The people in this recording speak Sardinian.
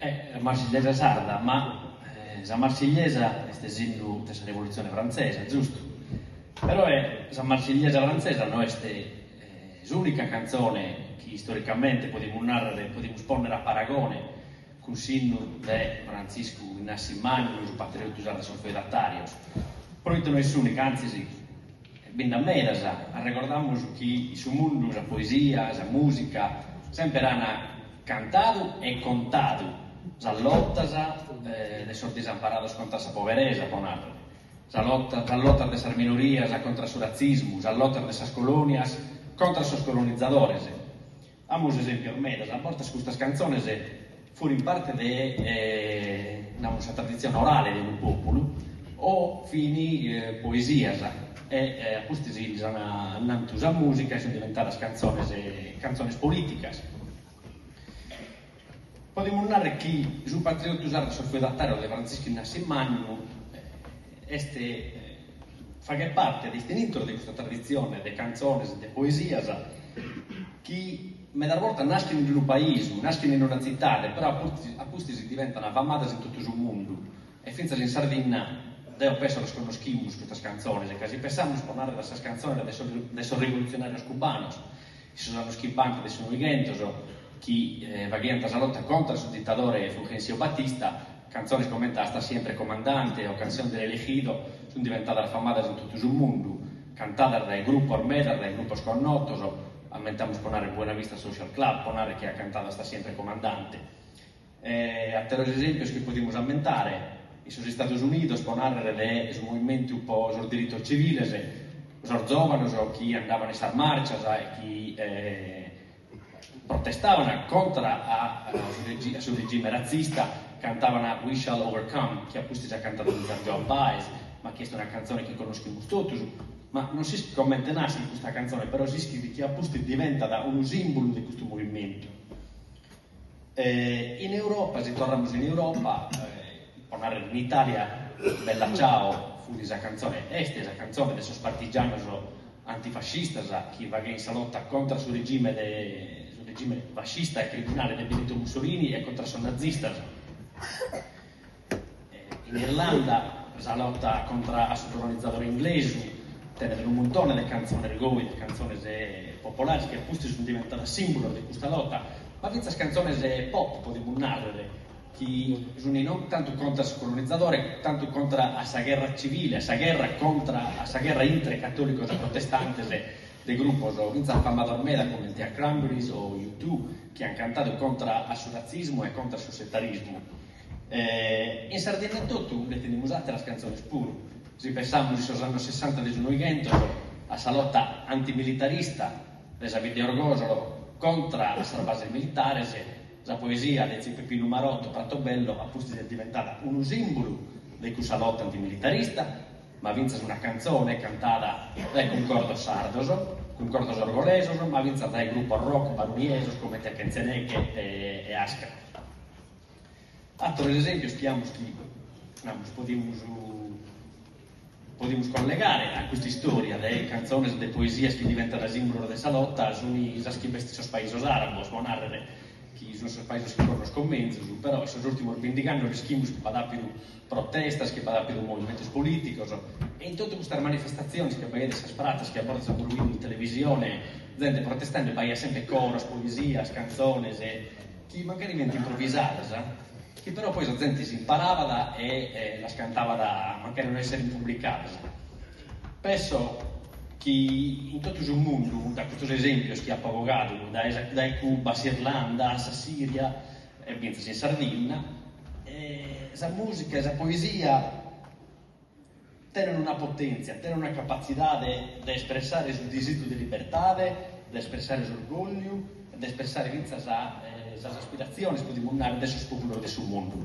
a Marsigliesa sarda, ma sa Marsigliesa est est s'innu de sa Revolutzione Frantzesa, giustu? Peroe sa Marsigliesa frantzesa no est s'ùnica cantzone chi istoricamente podimus nàrrere, podimus pònnere a paragone cun s'innu de Frantziscu Innassi Mannu, su patriotu sardu de sos feudatàrios. Proite no est s'ùnica, antzis, Bi nd'at medas, arrecordamus chi in su mundu sa poesia, sa mùsica semper ant cantadu e contadu sas lotas de sos disamparados contra sa poberesa, pro nàrrere, sas lotas de sas minorias contra su ratzismu, sas lotas de sas colònias contra sos colonizadores. Amus esempios medas, a bortas custas cantzones furint parte de, namus, sa traditzione orale de unu pòpulu o fini poesias e a pustis lis an annantu sa mùsica e sunt diventadas cantzones, cantzones polìticas. Podemus narrer chi su patriottu sardu a sos feudatàrios de Frantziscu Innassi Mannu est faghet parte de, est intro de custa traditzione de cantzones e de poesias chi medas bortas naschent in unu paisu, naschent in una tzitade però a pustis diventant famadas in totu su mundu e fintzas in Sardinna deo penso las connoschimus custas cantzones ca si pensamus pro narrer a sas cantzones de sos rivolutzionàrios cubanos In sos annos chimbanta de su Noighentos chi faghiant sa lota contra a su ditadore Fulgencio Batista, cantzones comente Hasta siempre comandante o Canción del elegido sunt diventadas famadas in totu su mundu, cantadas dae grupos medas, dae grupos connotos, ammentamus po narrer Buena Vista Social Club, po narrer chi at cantadu Hasta siempre comandante. E àteros esèmpios chi podimus ammentare, in sos Istados Unidos, pro nàrrere de su movimentu pro sos diritos tziviles, sos zòvanos chi andaban in sas màrcias e chi protestaban contra a su regime ratzista cantaban We Shall Overcome, chi a pustis at cantadu fintzas Joan Baez, ma chi est una cantzone chi connoschimus totus. Ma non s'ischit comente naschet custa cantzone, però s'ischit chi a pustis diventat unu sìmbulu de custu movimentu. E in Europa, si torramus in Europa, po narrer in Italia, Bella Ciao fut sa cantzone, est sa cantzone de sos partigianos antifascistas chi faghien sa lota contra su regime de su regime fascista e criminale de Benito Mussolini e contra sos nazistas. In Irlanda sa lota contra a su colonizadore inglesu tenet unu muntone de cantzones goi, de cantzones popolares chi a pustis sunt diventadas sìmbulos de custa lota, ma fintzas cantzones pop podimus nàrrere, chi sunt non tantu contra a su colonizadore, tantu contra a sa gherra tzivile, a sa gherra contra a sa gherra intre catòlicos e protestantes de grupos fintzas famados meda comente a Cranberries o U2 chi ant cantadu contra a su ratzismu e contra a su setarismu. E in Sardinna etotu nde tenimus àteras cantzones puru. Si pensamus in sos annos sessanta de su Noighentos a sa lota antimilitarista de sa bidda 'e Orgosolo contra a sas bases militares, sa poesia de tziu Peppinu Marotto, Pratobello, a pustis est diventada unu sìmbulu de cussa lota antimilitarista, ma fintzas una cantzone cantada dae cuncordos sardos, cuncordos orgolesos, ma fintzas dae grupos rock baruniesos comente Kenze Neke e Askra. Ateros esèmpios chi amus chi, namus, podimus podimus collegare a custa istòria de cantzones e de poesias chi diventant sìmbulos de sa lota sunt sas chi b'est in sos paisos àrabos, pro nàrrere chi sunt sos paisos chi connosco menzus, però in sos ùrtimos bindigh'annos l'ischimus chi b'at àpidu protestas, chi b'at àpidu movimentos polìticos e in totu custas manifestatziones chi b'aiat in sas pratzas, chi a bortas amus bidu in televisione zente protestende, b'aiat semper coros, poesias, cantzones e chi mancari fiant improvisadas, chi però poi sa zente si imparabat e las cantabat mancari no esserent publicadas. Penso chi in totu su mundu, dae custos esempios chi apo bogadu, dae Cuba, s'Irlanda, sa Siria e fintzas in Sardinna, sa musica e sa poesia, Tenent una potèntzia, tenent una capatzidade de espressare su disìgiu de libertade, de espressare s'orgògliu, de espressare fintzas sas aspiratziones, podimus narrer, de sos pòpulos de su mundu.